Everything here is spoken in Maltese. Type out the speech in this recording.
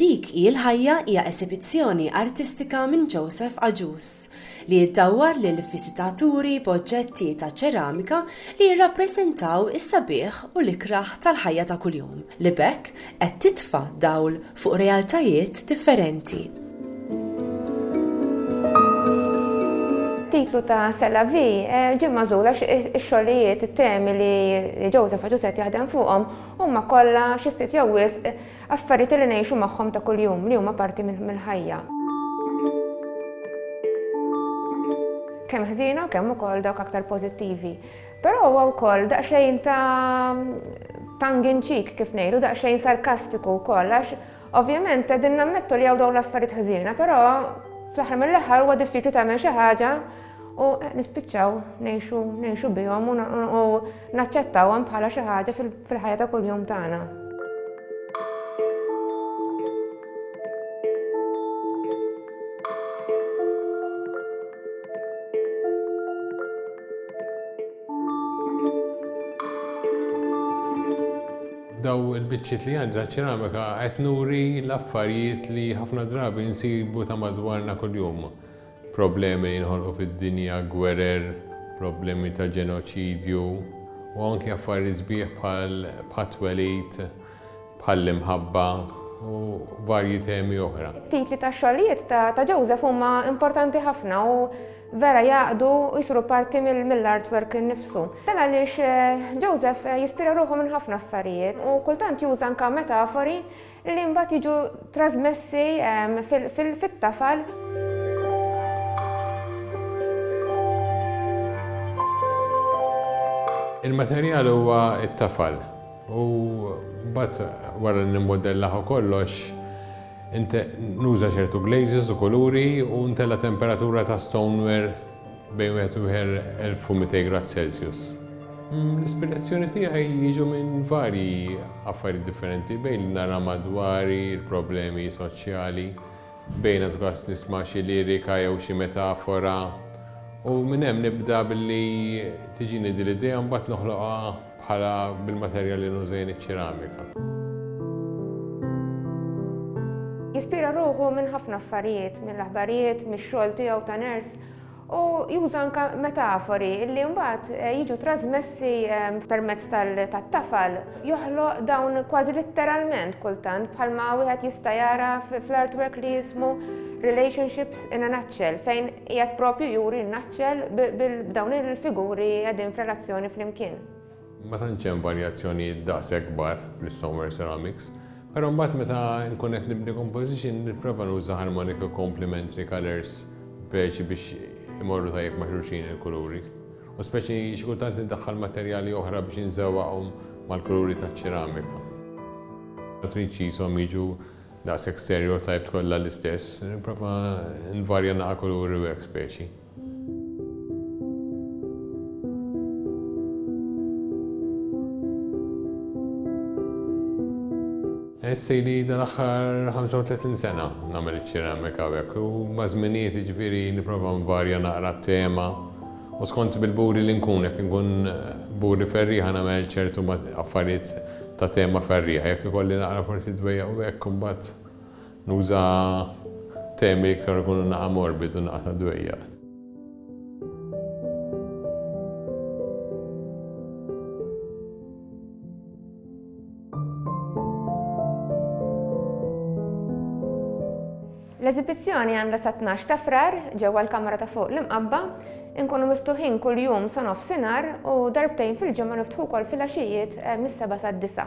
Dik hi l-ħajja hija esibizzjoni artistika minn Joseph Agius li jiddawwar lil viżitaturi b'oġġetti ta' ċeramika li jirrappreżentaw is-sabiħ u l-ikrah tal-ħajja ta' kuljum li b'hekk qed titfa' dawl fuq realtajiet differenti. It-titlu ta' C'est la vie eh, ġie magħżul għax ix-xogħlijiet, it-temi li Joseph għadu set jaħdem fuqhom huma kollha xi ftit jew wisq affarijiet li ngħixu magħhom ta' kuljum li huma parti mill-ħajja. Kemm ħżiena u kemm ukoll dawk aktar pożittivi. Però huwa wkoll daqsxejn ta' tongue in cheek kif ngħidu, daqsxejn sarkastiku wkoll għax ovvjament qegħdin nammettu li hawn dawn l-affarijiet ħżiena, però fl-aħħar mill-aħħar huwa diffiċli tagħmel xi ħaġa u nispiċċaw ngħixu bihom u naċċettawhom bħala xi ħaġa fil fil-ħajja ta' kuljum tagħna. daw il-bicċiet li għandha ċeramika qed nuri l-affarijiet li ħafna drabi nsibu ta' madwarna kuljum. Problemi li jinħolqu fid-dinja, gwerer, problemi ta' ġenoċidju, u anki affarijiet sbieħ bħal bħat-twelid, bħall-imħabba, u varji temi oħra. It-titli tax-xogħlijiet ta' Joseph huma importanti ħafna u vera jgħaqqdu u jsiru parti mill-artwork innifsu. Dan għaliex Joseph jispira ruħu minn ħafna affarijiet u kultant juża anke metafori li mbagħad jiġu trasmessi fit-tafal. Il-materjal huwa t-tafal u mbagħad wara li nimmodellah u kollox nuża ċertu glazes u kuluri u ntella' temperatura ta' stoneware Bejn wieħed u 1200 grad Celsius. L-ispirazzjoni tiegħi jiġu minn varji affarijiet differenti, bejn li nara madwari, il-problemi soċjali, bejn għadu każ nisma' xi lirika jew xi metafora u minn hemm nibda billi tiġini din l-idea u mbagħad noħloqha bħala bil-materjal li nuża jien iċ-ċeramika. Jispira ruħu minn ħafna affarijiet, mill-aħbarijiet, mix-xogħol tiegħu ta' nurse, u juża anka metafori li mbagħad eh, jiġu trasmessi eh, permezz tat-tafal joħloq dawn kważi litteralment kultant bħalma wieħed jista' jara fl-artwork li jismu Relationships in a Nutshell fejn qiegħed propju juri n-nutshell b'dawn il-figuri qegħdin f'relazzjoni flimkien. Ma tantx hemm varjazzjonijiet daqshekk kbar fl-istoneware ceramics, però mbagħad meta nkun qed nibni composition nipprova nuża harmonic u complementary colours beige biex imorru tajjeb ma' xulxin il-kuluri. U speċi xi kultant indaħħal materjali oħra biex inżewwaqhom mal-kuluri taċ-ċeramika. Ma tridx qishom jiġu daqshekk stereotyped kollha l-istess, nipprova nvarja naqra kuluri u hekk speċi. Nħoss ili dan l-aħħar 35 sena nagħmel iċ-ċeramika hawnhekk u maż-żminijiet jiġifieri nipprova nvarja naqra t-tema u skont bil-buri li nkun jekk inkun buri ferrieħa nagħmel ċertu affarijiet ta' tema ferrieħa jekk ikolli naqra forsi dwejjaq u hekk imbagħad Nuża temi li iktar ikunu naqa' morbid u naqa' ta' dwejjaq. L-eżibizzjoni għandha sat-tnax ta' Frar ġewwa l-kamra ta' fuq l-Imqabba. Inkunu miftuħin kull jum sa nofsinhar u darbtejn fil-ġimgħa niftħu wkoll filgħaxijiet mis-sebgħa sad-disgħa.